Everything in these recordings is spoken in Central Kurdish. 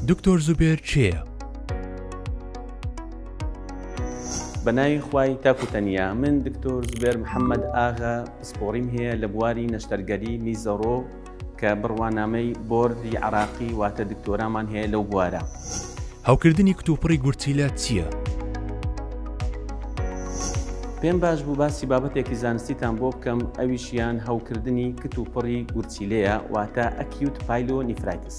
دکتۆر زوبێر چێە؟ بە ناوی خوای تاکو تەنیا من دکتۆر زوبێر محەممەد ئاغا پسپۆڕیم هەیە لە بواری نەشتەرگەری میزەڕۆ کە بڕوانامەی بۆردی عەراقی واتە دکتۆرامان هەیە لەو بوارە. هەوکردنی کتوپڕی گورچیلە چییە؟ پێم باش بوو باسی بابەتێکی زانستیتان بۆ بکەم ئەویشیان هەوکردنی کت و پڕی گورچیلەیە واتە ئەکیوت پایلۆ نیفرایتس.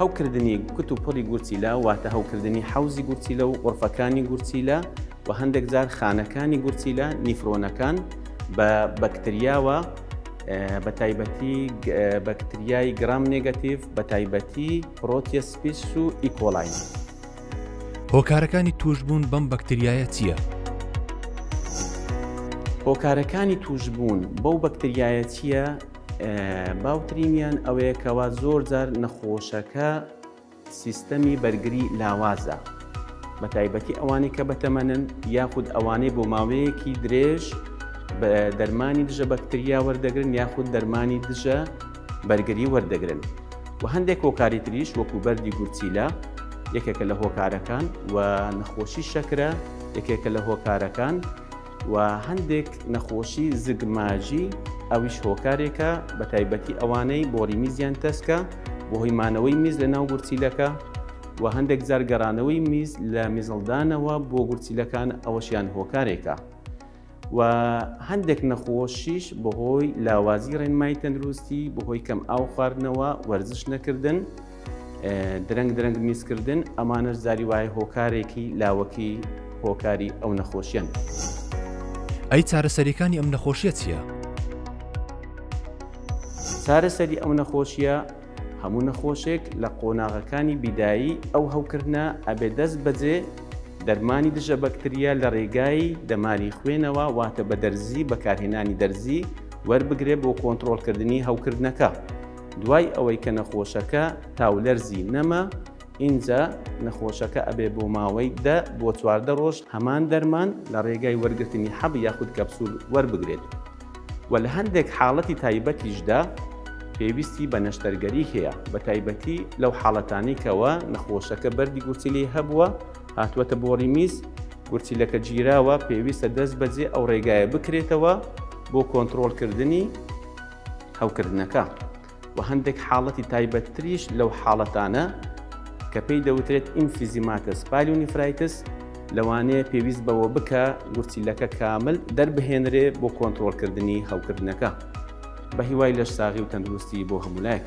هەوکردنی کت و پڕی گورچیلە واتە هەوکردنی حوزی گورچیلە و قڕفەکانی گورچیلە و هەندێک جار خانەکانی گورچیلە نیفرۆنەکان بە بەکتریاوە بە تایبەتی بەکتریای گرام نگەتیڤ بە تایبەتی پرۆتیە سپیس و ئیکۆلاین هۆکارەکانی توشبوون بەم بەکتریایە چییە؟ هۆکارەکانی توشبوون بەو بەکتریایە چییە باوترینیان ئەوەیەکەوە زۆر جار نەخۆشەکە سیستەمی بەرگری لاوازە، بەتایبەتی ئەوانەی کە بەتەمەنن یاخود ئەوانەی بۆ ماوەیەکی درێژ دەرمانی دژە بەکتریا وەردەگرن یاخود دەرمانی دژە بەرگری وەردەگرن و هەندێک هۆکاری تریش وەکو بەردی گورچیلە یەکێکە لە هۆکارەکان و نەخۆشی شەکرە یەکێکە لە هۆکارەکان. و هەندێک نەخۆشی زگماژی ئەویش هۆکارێکە بە تایبەتی ئەوانەی بۆری میزیان تەسکە بۆهی مانەوەی میز لە ناو گورچیلەکە و هەندێک جار گەڕانەوەی میز لە میزڵدانەوە بۆ گورچیلەکان ئەوەشیان هۆکارێکە و هەندێک نەخۆشیش بەهۆی لاوازی ڕێنمای تەندروستی بەهۆی کەم ئاو خواردنەوە وەرزش نەکردن درەنگ درەنگ میزکردن ئەمانەش زاری وایە هۆکارێکی لاوەکی هۆکاری ئەو نەخۆشیەن. ئەی چارەسەریەکانی ئەم نەخۆشیە چییە؟ چارەسەری ئەو نەخۆشیە هەموو نەخۆشێک لە قۆناغەکانی بیدایی ئەو هەوکردە ئەبێ دەست بەجێ دەرمانی دژە بەکتریا لە ڕێگای دەماری خوێنەوە واتە بە دەرزی بەکارهێنانی دەرزی وەربگرێ بۆ کۆنتترۆلکردنی هەوکردنەکە. دوای ئەوەی کە نەخۆشەکە تاولەرزی نەما ئینجا نەخۆشەکە ئەبێ بۆ ماوەی دە بۆ چواردە ڕۆژ هەمان دەرمان لە ڕێگای وەرگرتنی حەب یاخود کەپسول وەربگرێت و لە هەندێک حاڵەتی تایبەتیشدا پێویستی بە نەشتەرگەری هەیە بە تایبەتی لەو حاڵەتانی کەەوە نەخۆشەکە بەردی گورچیلی هەبووە هاتووەتە بۆ ڕیمیز گورچیلەکە گیراوە پێویستە دەست بەجێ ئەو ڕێگایە بکرێتەوە بۆ کۆنتترۆلکردنی هەوکردنەکە و هەندێک حاڵەتی تایبەتتریش لەو حاڵەتانە کە پێی دەوترێت ئیمفیزیماتەس پالیونیفرایتس لەوانەیە پێویست بەوە بکە گورچیلەکە کامل دەربهێنرێ بۆ کۆنتترۆلکردنی هەوکردنەکە بە هیوای لەش ساغی و تەندروستی بۆ هەمولایەک.